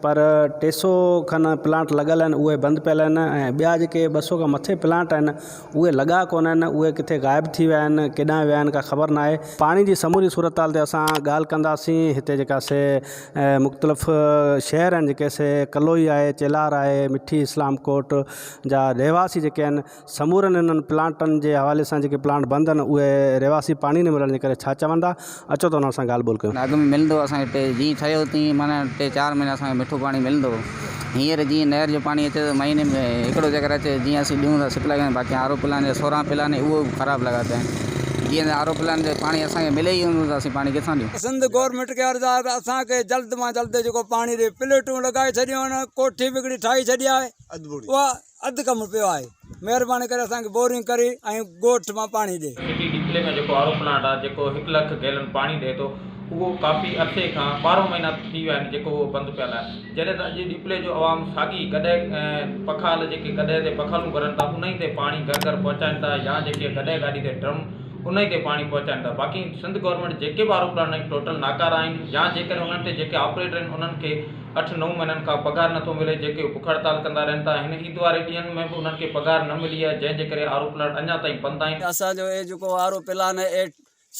پر ٽي سؤ کن پلانٽ لڳل آهن اهي بند پيل آهن ۽ ٻيا جيڪي ٻه سؤ کان مٿي پلانٽ آهن اهي لڳا ڪونه آهن اهي ڪٿي غائب ٿي ويا آهن ڪيڏانهن ويا آهن ڪا خبر نه آهي پاڻي جي سموري صورتحال تي اسان ڳالهه ڪنداسين هتي جيڪا سي مختلف شهر آهن جيڪي سي ڪلوئي آهي چيلار آهي مٺي اسلام ڪوٽ جا رهواسي جيڪي آهن سمورن انهن پلانٽن جي حوالي سان جيڪي پلانٽ بند آهن اهي رهواسي پاڻي نه ملڻ جي ڪري ڇا چوندا اچو ته انهن سان ڳالهه ٻولهه ڪيون. اڳ ۾ ملندو اسان کي ٽي جيئن ٺهيو تيئن معنيٰ ٽي چار مهينا اسان کي مٺو پاڻي ملندو هو هينئر جيئن نهر جو پاڻي اچي ٿو مهيني ۾ هڪڙو چڪر اچي جيئن اسين ڏيون ٿا سپلاء ڪيون باقي آر او پلانٽ جا سورهن پلانٽ اهي به خراب لڳا پيا آهن جيئن ته آر او پلانٽ جو پاڻي اسان کي ملي ئي ڪونه ٿو ته اسين پاڻي ڪٿان ڏيون. سنڌ گورنمينٽ کي عرض آهي ته اسان کي جلد مان جلد جيڪو پاڻي ڏي پليٽون لڳائي ڇڏيون آهن ڪوٺي به هڪڙي ٺاهي ڇڏي آهي اها اڌ ڪم پيو آهي مهرباني ڪري اسان کي بورنگ ڪري ۽ ڳوٺ مان پاڻي ڏي. سي ٽي ڊي ضلعي ۾ جيڪو آر او پلانٽ آهي جيڪو هڪ لک گيلن پاڻي ڏئي ٿو اهو ڪافي عرصي کان ٻارهن مهينا ٿي ويا آهن جيڪو اهو بند پيل آهي جڏهن ته اڄ ڏيپلي جو عوام ساڳي گڏهه پکال جيڪي گڏهه تي پکالون ڀرن ٿا انهي تي پاڻي گهر گهر پهچائين ٿا يا جيڪي گڏهه گاڏي تي ڊرم انهي تي پاڻي پهچائين ٿا باقي سنڌ گورنمينٽ جيڪي به آر او پلانٽ آهن ٽوٽل ناڪارا آهن يا جيڪڏهن انهن تي جيڪي آپريٽر آهن انهن کي اٺ نو مهينن کان پگهار نه ٿو ملي جيڪي بک هڙتال ڪندا رهن ٿا هن عيد واري ڏينهن ۾ به انهن کي پگهار نه ملي آهي جنهن جي ڪري آرو پلانٽ اڃا تائين بند آهن. اسان جو اهي جيڪو آرو پلان اهي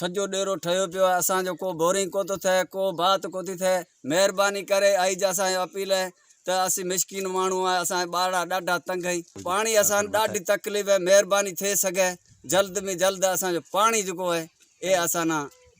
سڄو ڏيرو ٺهيو پيو آهي اسان جو ڪو بورنگ ڪو ٿو ٿئي ڪو بات ڪو ٿي ٿئي مهرباني ڪري آئي جي اسان کي اپيل اهي ته اسين مسڪين ماڻهو آهي اسان جا ٻارڙا ڏاڍا تنگ اهي پاڻي اسان ڏاڍي تڪليف اهي مهرباني ٿئي سگهي جلد ۾ جلد اسان جو پاڻي جيڪو اهي اي اسان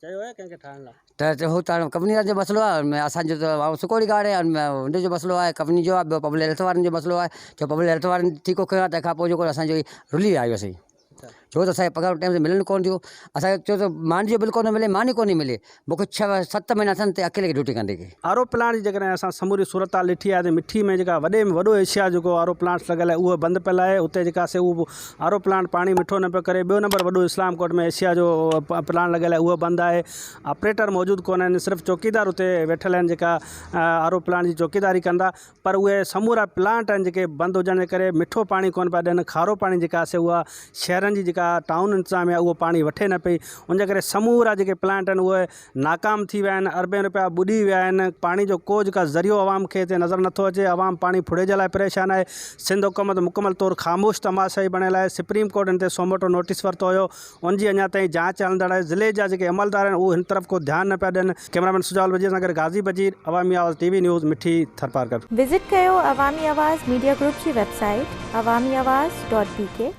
ته هو ته ڪمپني وارن جو مسئلو آهي ۽ اسان جو ته واء سڪوڙي گاڏ آهي ۽ ان جو مسئلو آهي ڪمپني جو آهي ٻيو پبلڪ هيلٿ وارن جو مسئلو آهي جو پبلڪ هيلٿ وارن ٺيڪو ڪيو آهي تنهنکان پوء جيڪو اسان جو رلي آيو سي ڇو ته اسانکي پگهارون ٽيم تي ملن ڪون ٿيون اسان کي ڇو ته ماني جو بل ڪونه ملي ماني ڪونه ملي مون کي ڇهه ست مهينا ٿين تي اڪيلي کي ڊيوٽي ڪندي کي. آر او پلانٽ جي جيڪڏهن اسان سموري صورتحال ڏٺي آهي ته مٺي ۾ جيڪا وڏي ۾ وڏو ايشيا جيڪو آر او پلانٽس لڳل آهي اهو بند پيل آهي اتي جيڪا سي اهو آر او پلانٽ پاڻي مٺو نه پيو ڪري، ٻيو نمبر وڏو اسلام ڪوٽ ۾ ايشيا جو پلانٽ لڳل آهي اهو بند آهي آپريٽر موجود ڪونه آهن صرف چوڪيدار اتي ويٺل آهن جيڪا آر او پلانٽ جي چوڪيداري ڪندا پر اهي سمورا پلانٽ آهن جيڪي بند هجڻ جي ڪري مٺو پاڻي ڪونه پيا ڏين کارو پاڻي جيڪا سي اها شهرن جي جيڪا ٽائون انتظاميا اهو پاڻي وٺي نه پئي ان جي ڪري سمورا جيڪي پلانٽ آهن اهي ناڪام ٿي ويا آهن، اربين رپيا ٻڏي ويا آهن، پاڻي جو ڪو جيڪا ذريعو عوام کي هتي نظر نٿو اچي، عوام پاڻي ڦڙي جي لاء پريشان آهي، سنڌ حڪومت مڪمل طور خاموش تماشائي بڻيل آهي، سپريم ڪورٽ هن تي سوموٽو نوٽيس ورتو هيو، ان جي اڃا تائين جاچ هلندڙ آهي، ضلعي جا جيڪي عملدار آهن اهو هن طرف ڪو ڌيان نه پيا ڏين. ڪئميرامين سجاول وزير سان گڏ غازي Bajeer, Awami Awaz T V news, Mithi Tharparkar. Visit ڪيو عوامي آواز ميڊيا گروپ جي ويب سائيٽ عوامي آواز ڊاٽ بي ڪي.